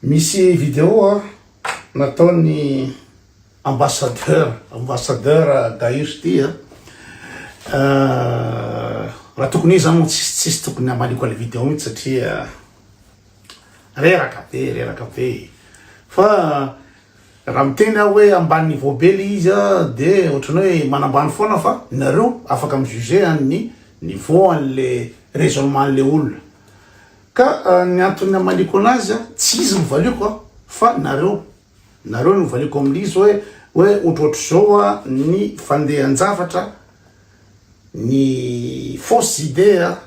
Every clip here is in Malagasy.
Misy vidéo nataon'ny ambassadeur, ambassadeur Daish ty a, raha tokony izy zany moa tsisy tsisy tokony hamaliako anle vidéo mitsy satria reraka be reraka be e, fa raha miteny aho hoe ambany niveau be le izy a de ohatran'ny hoe manambany foana fa nareo afaka mi-juger an'ny niveau anle raisonnement anle olona. Ka ny antony hamaliako anazy tsy izy no valiako an, fa nareo, nareo no valiako amin'izy hoe hoe otrotr'izao ny fandehan-javatra, ny fausses idées an,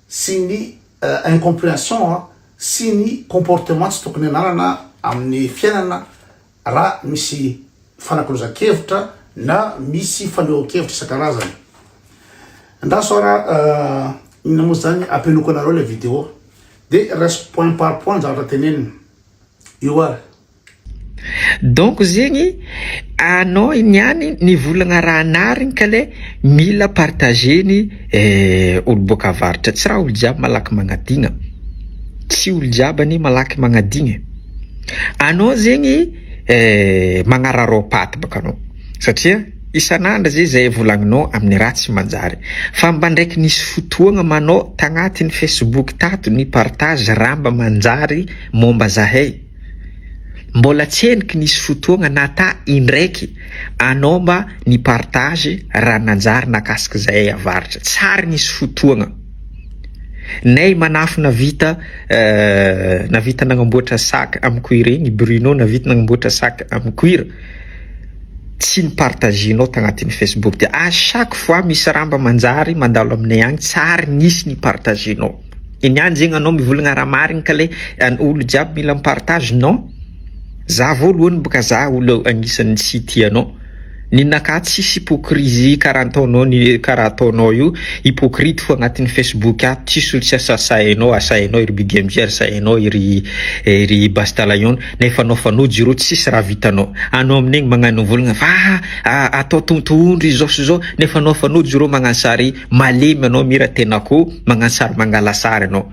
sy ny incomprehension sy ny comportement tsy tokony ananana amin'ny fiainana raha misy fanakalozan-kevitra na misy fanehoan-kevitra isan-karazany. Andraso ara inona moa zany apenoko anareo ilay vidéo de raiso point par point zavatra tenenina io ara. Donc zegny anao niany ny volagna raha narigny ka le mila partager ny eh, olo boaka avaratra tsy raha olo jiaby malaky magnadigna, tsy olo jiaby anie malaky magnadigna e. Anao zegny magnararao paty bôka anao satria isan'andro ze zay volagninao amin'ny raha tsy manjary fa mba ndraiky nisy fotoagna ma anao tagnatin'ny facebook tato ni partage raha mba manjary mômba zahay mbôla tsendriky nisy fotoagna na ta indraiky anao mba ni partage raha nanjary nakasika zahay avaratra tsary nisy fotoagna. Nay manafo navita navita nagnamboatra sac am cuir igny Bruno navita nagnamboatra sac am cuir tsy ni partagenao tagnatin'ny facebook ty à chaque fois misy raha mba manjary mandalo aminay agny tsy ary nisy ni partagenao i niany zegny anao mivolagna raha marigny ka le olo jiaby mila mi partage non. Za voalohany boka za olo agnisany tsy tia anao ninaka tsisy hypocrisie kara ataonao ny kara ataonao io hypocrite fo agnatiny Facebook ato tsisy olo tsy asasainao asainao ery bdmj asainao ery ery bastalayon nefa anao fanojo iro tsisy raha vitanao anao aminegny magnano volagna fa atao tontohondry izao sy zao nefa anao fanojo iro magnano sary malemy anao mira tenako magnano sary mangala sary anao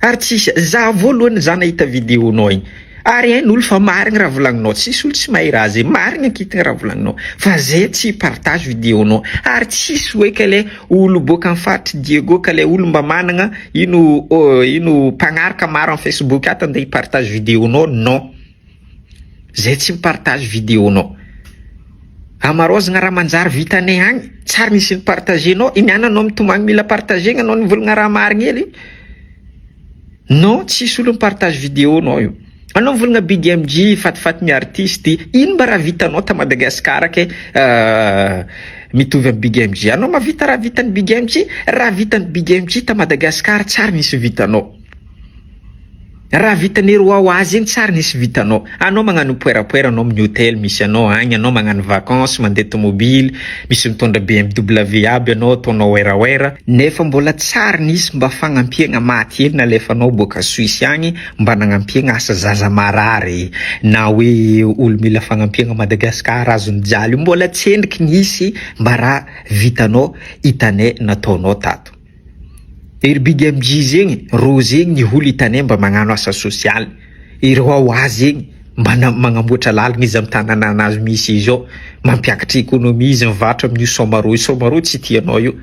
Ary tsisy, za voalohany za nahita video nao igny, ary hain olo fa marigny raha volagninao, tsisy olo tsy mahay raha zay, marigny ankitigny raha volagninao, fa ze tsy hi partage video nao, ary tsisy hoe ka le olo boaka am faritry Diego ka le olo mba managna ino ino mpagnaraka maro am facebook ato ande hi partage video nao, non. Zay tsy mi-partage video nao. Amaraozigna raha manjary vitanay agny, tsary nisy ni-partager nao, i miana nao mitomagny mila partagegna nao nivolagna raha marigny hely io. Non tsisy olo mi-partage video nao io. Anao mivolagna BDMG fatifaty ny artiste, ino mba raha vitanao ta Madagascar ke mitovy am BDMG. Anao mavita raha vitan'i BDMG? Raha vitan'i BDMG ta Madagascar tsary nisy vitanao. Raha vitan'ery wa wa zegny tsara nisy vitanao. Anao magnano poerapoera anao amin'ny hotely misy anao agny, anao magnano vacances, mandeha tomobily, misy mitondra BMW aby anao ataonao werawera, nefa mbola tsara nisy mba fagnampiagna maty hely nalefanao boaka Suisse agny mba nagnampiagna asa zaza marary na hoe olo mila fagnampiagna à Madagascar azon'ny jaly io mbola tsendriky nisy mba raha vitanao hitanay nataonao tato. Erbigy amjy zegny rô zegny ny holy itanay mba magnano asa sosialy ireo ao azy zegny mba magnamboatra lalagna izy am tananana azy misy izy ao mampiakatra ekonomia izy mivarotra aminio somarô io somarô tsy tia anao io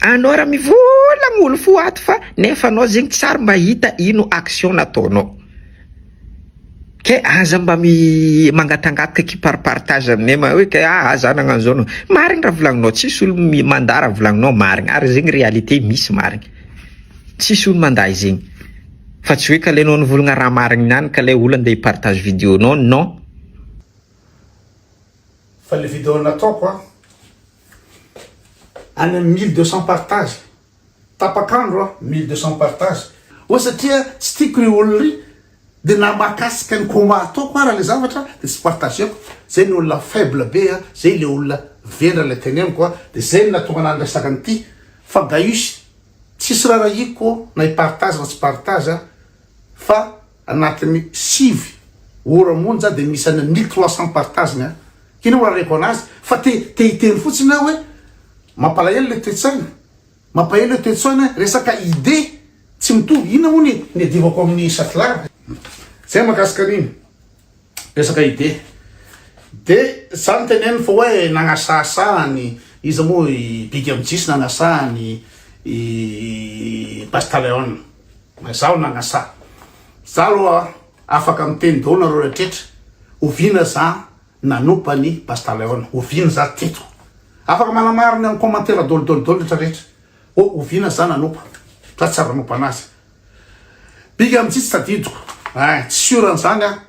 anao ra mivola molo fo ato fa nefa anao zegny tsary mahita ino action nataonao. Kay aza mba mi mangatangataky ki par partage aminay ma hoe kay aa za nagnano zao nagnano zao, marigny raha volagninao tsisy olo mi mandà raha volagninao marigny ary zegny réalité misy marigny tsisy olo mandà izegny fa tsy hoe k'aleinao nivolagna raha marigny niany ka lay olo andeha hi partage video nao non. Fa le video nataoko a any am mille deux cent partage. Tapaka andro a 1200 partage. Oa satria tsy tiako ry olona ry de na mahakasika ny combat ataoko ara le zavatra de tsy partageko zay ny olona faible be a zay le olona vendrana le teneniko a de zay no nahatonga anah niresaka an'ity fa gaius tsisy rarahiko na hi partage na tsy partage a fa Anatin'ny sivy ora monja dia misy any mille trois cents partage-ny an! K'inona no areko anazy fa te te hiteny fotsiny aho hoe mampalahelo le toe-tsaina, mampaelo le toe-tsaina e! Resaka idée tsy mitovy, inona moa ny niadivako amin'i Satlar? Zay mahakasika an'iny resaka idée. De za no teneniny fa hoe nagnasahasaha an'i iza moa i Big Mjs nagnasaha an'i i Pastaleon. Na zaho na Nasa. Za aloha afaka miteny daholo nareo rehetra oviana za nanopa ny Bastaleone oviana za teto afaka manamarina amin'ny commentaire daholo daholo daholo rehetra rehetra oh oviana za nanopa za tsy ary nanopa anazy big amitsy tsy tadidiko eh tsy sûr an'izany ah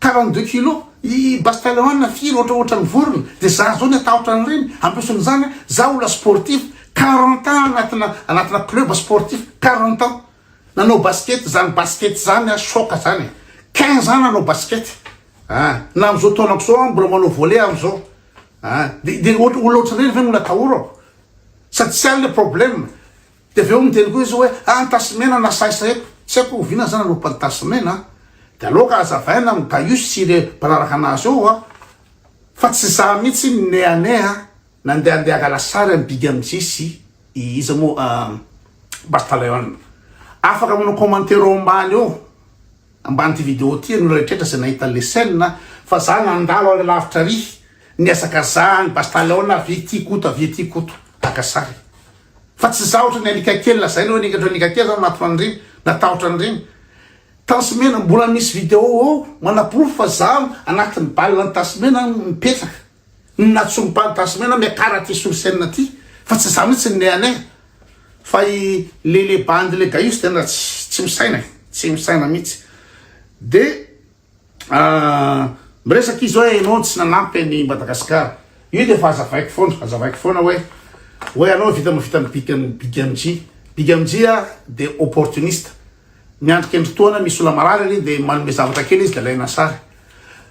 Quarante deux kilos i Bastaleon firy ohatra ohatran'ny vorona dia za zao ny atahotra an'ireny en plus n'izany a za olona sportif quarante ans anatina anatina club sportif quarante ans nanao basket zany basket zany a choc zany e quinze ans nanao basket a na am'zao taonako zao aho mbola manao volley aho am'zao a de de ohatra olona ohatran'ireny ve no mbola atahorako sady tsy any le problème Dia avy eo miteny koa izy hoe, ah tasy mena na saisa eto, tsy haiko oviana izany aloha pal tasy mena an, dia aleo ka hazavaina amin'ny dayus sy ireo mpanaraka anazy eo an, fa tsy izaho mihitsy ny ne ane an, nandehandeha hangala sary an'i big MJ sy i iza moa an, bastaleon. Afaka manao commentaire eo ambany eo. Amban'ity vidéo ity ianao rehetra izay nahita an'ilay scène fa za nandalo any lavitra ary nihazakazaha any Bastaleon avy ety Koto avy ety Koto haka sary fa tsy za ohatran'ny alika kely lazaina hoe ohatran'ny alika kely za matotra an'ireny na tahotra an'ireny Tansymena mbola misy vidéo ao manaporofo fa za anatin'ny bal an'i Tansymena mipetraka Ny natsongo pan tasimena miakara aty sur scène aty fa tsy za mitsy ny nea nea fa i lele bandy le gaius tena tsy tsy misaina e tsy misaina mitsy de miresaka izy hoe enao tsy nanampy any Madagascar io de efa azavaiko foana azavaiko foana hoe hoe anao vita mavita ny big big mg big mg a de opportuniste Miandry kendritoana misy olona marary ary dia manome zavatra kely izy dia alaina sary.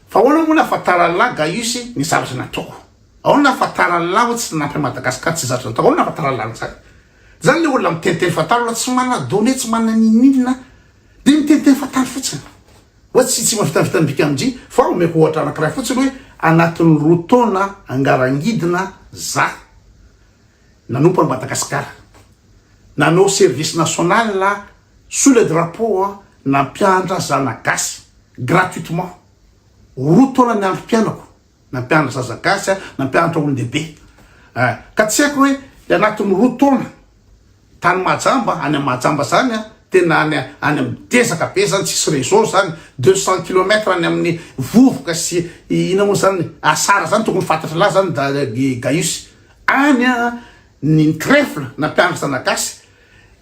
Fa ahoana moa nahafantaran'i lahy Gaius ny zavatra nataoko? Ahoana nahafantaran'i lahy hoe tsy nanampy an'i Madagasikara tsy zatra nataoko? Ahoana nahafantaran'i lahy an'izany? Izany ilay olona miteniteny fantany aloha tsy manana données tsy manana ninoninona dia miteniteny fantany fotsiny. Hoe tsy tsy mavitanvitan'ny bikamji fa omeko ohatra anankiray fotsiny hoe anatin'ny roa taona angarangidina za. Nanompo an'i Madagascar. Nanao service national sous le drapeau an nampianatra zana gasy gratuitement. Roa taona ny androm piainako nampianatra zaza gasy an nampianatra olondehibe. Eh ka tsy haiko hoe le anatin'ny roa taona tany Mahajamba any am Mahajamba zany an tena any any am dezaka be zany tsisy réseau zany deux cent kilomètre any amin'ny vovoka sy ina moa zany asara zany tokony fantatry lahy zany da gaius Any an ny trèfle nampiandry zanagasy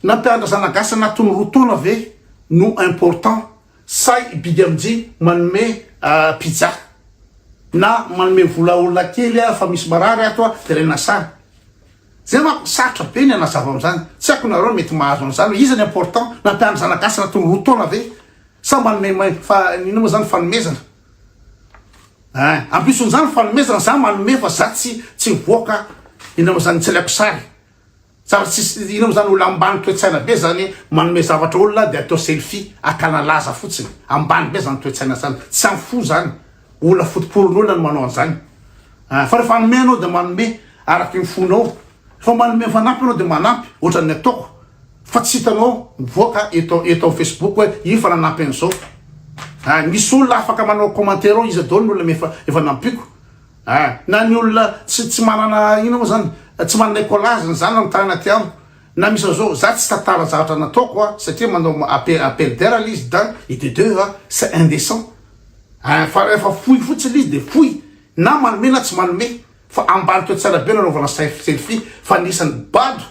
nampiandra zanagasy anatiny roa taona ve no important sa i bigamj manome pizza na manome vola olona kely a fa misy marary ato a de alaina sary zay manko sarotra be ny anazava amzany tsy aiko nareo mety mahazo anzany hoe iza ny important nampiandry zanagasy anatiny roa taona ve sa manome main fa inona ma zany fanomezana. Eh, ampiason'izany fanomezana, za manome fa za tsy tsy mivoaka, inona mo zany tsy alaiko sary, tsara tsisy, inona mo zany olo ambany toe-tsaina be zany manome zavatra olona de atao selfie, akana laza fotsiny, ambany be zany toe-tsaina zany, tsy am fo zany, olona fotoporon'olona no manao an'zany, ah fa refa hanome anao de manome araky ny fonao, refa manome mifanampy anao de manampy, ohatran'ny ataoko. Fa tsy hitanao mivoaka eto eto facebook hoe io efa nanampy an'izao ah misy olona afaka manao commentaire ao iza daholo ny olona efa efa nampiko ah na ny olona tsy tsy manana inona moa zany tsy manana écolage ny zanany tany anaty amiko na misy an'izao za tsy tantara zavatra nataoko ah satria manao appel appel d'air le izy d'un et de deux ah c'est indécent ah fa rehefa fohy fotsiny izy de fohy na manome na tsy manome Fa ambarika tsara be nanaovana selfie fa nisy ny bado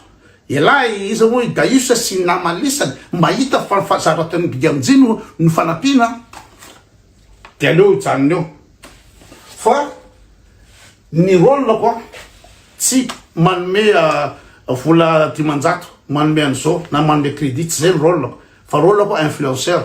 elah e iza moa i Daius sy ny namany lisany mba hita fa ny zavatra ataon'i Bigamji no no fanampiana de aleo hijanona eo fa ny rôle ko tsy manome vola dimanjato manome an'izao na manome crédit tsy zay ny rôle ko fa rôle ko influenceur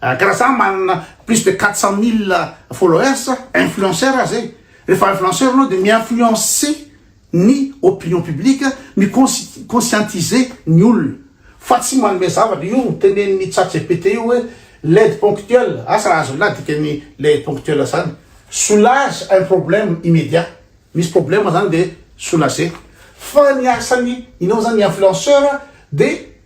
Karaha za manana plus de quatre cent mille followers, influenceur aza e, rehefa influenceur anao de mi-influencer ny opinion publique, mi-conscientiser ny olona fa tsy manome zavatra, io tenenin'i chat gpt io hoe l'aide ponctuelle, asa raha azon'lah dikan'ny le aide ponctuelle zany? soulage un problème immédiat, misy problème zany de soulager, fa ny asan'ny inao zany ny influenceur de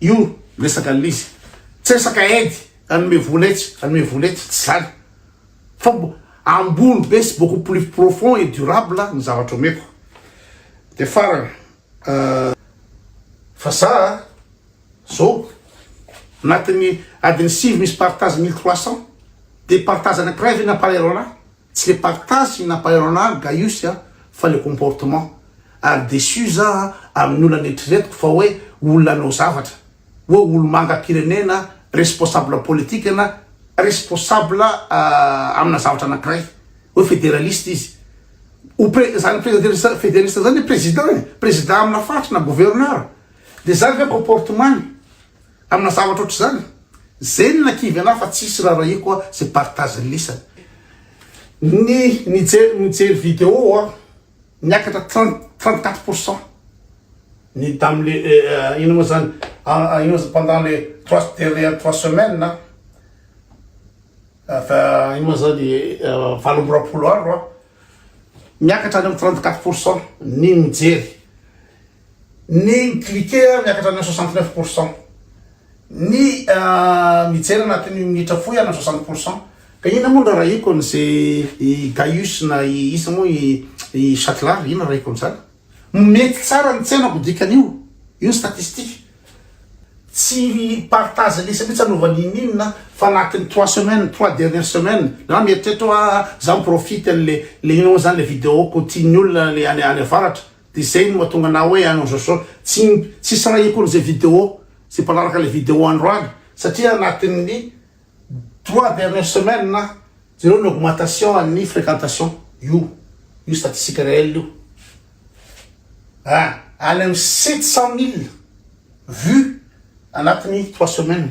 Io resaka anle izy tsy resaka aide hanome vola etsy hanome vola etsy tsy zany fa ambony be sy beaucoup plus profond et durable ny zavatra omeko de farany fa za zao anatin'ny adiny sivy misy partage mille trois cents de partage anankiray ve nampalahelo anah? Tsy le partage sy nampahairo anah ry Gaius a fa le comportement. Ary déçu zah amin'ny olona neritreretiko fa hoe olona hanao zavatra. Hoe olomangam-pirenena, responsable politique na responsable amina zavatra anankiray. Hoe federaliste izy. Ho pre, zany prezederista, federista zany hoe président e. Président amina faritra na gouverneur. De zany ve comportement-ny? Amina zavatra ohatr'izany, zeny na kivy anah fa tsisy rarahiako ah ze partage lisany. Ny nijery mijery video ah niakatra trente trente quatre pour cent ny tam le inona moa zany ah inona moa zany pendant le trois dernière trois semaines ah fa inona moa zany valo amby roapolo andro ah miakatra any am trente quatre pour cent ny mijery. Ny mi-cliquer miakatra any amin'ny soixante neuf pour cent. Ny mijery anatin'ny minitra fohy any amin'ny soixante pour cent. Ka inona moa no rarahiko an'ze i Gaius na i iza moa i Chatelard, inona rarahiko an'zany? Mety tsara ny tsenako dikan'io, io ny statistique. Tsy partage liste mihitsy anaovana ininona fa anatin'ny trois semaines, trois dernières semaines. Na mieritreritra hoe aah za mi-profite an'le le inona moa zany le video-ko tian'ny olona any avaratra. Dia izay no mahatonga anah hoe any amin'izao sao tsy tsy sarahiko an'izay video izay mpanaraka ilay video androany satria anatin'ny trois dernières semaines na jereo ny augmentation an'ny fréquentation io io statistique réel io a any amin'ny sept cent mille vues anatin'ny trois semaines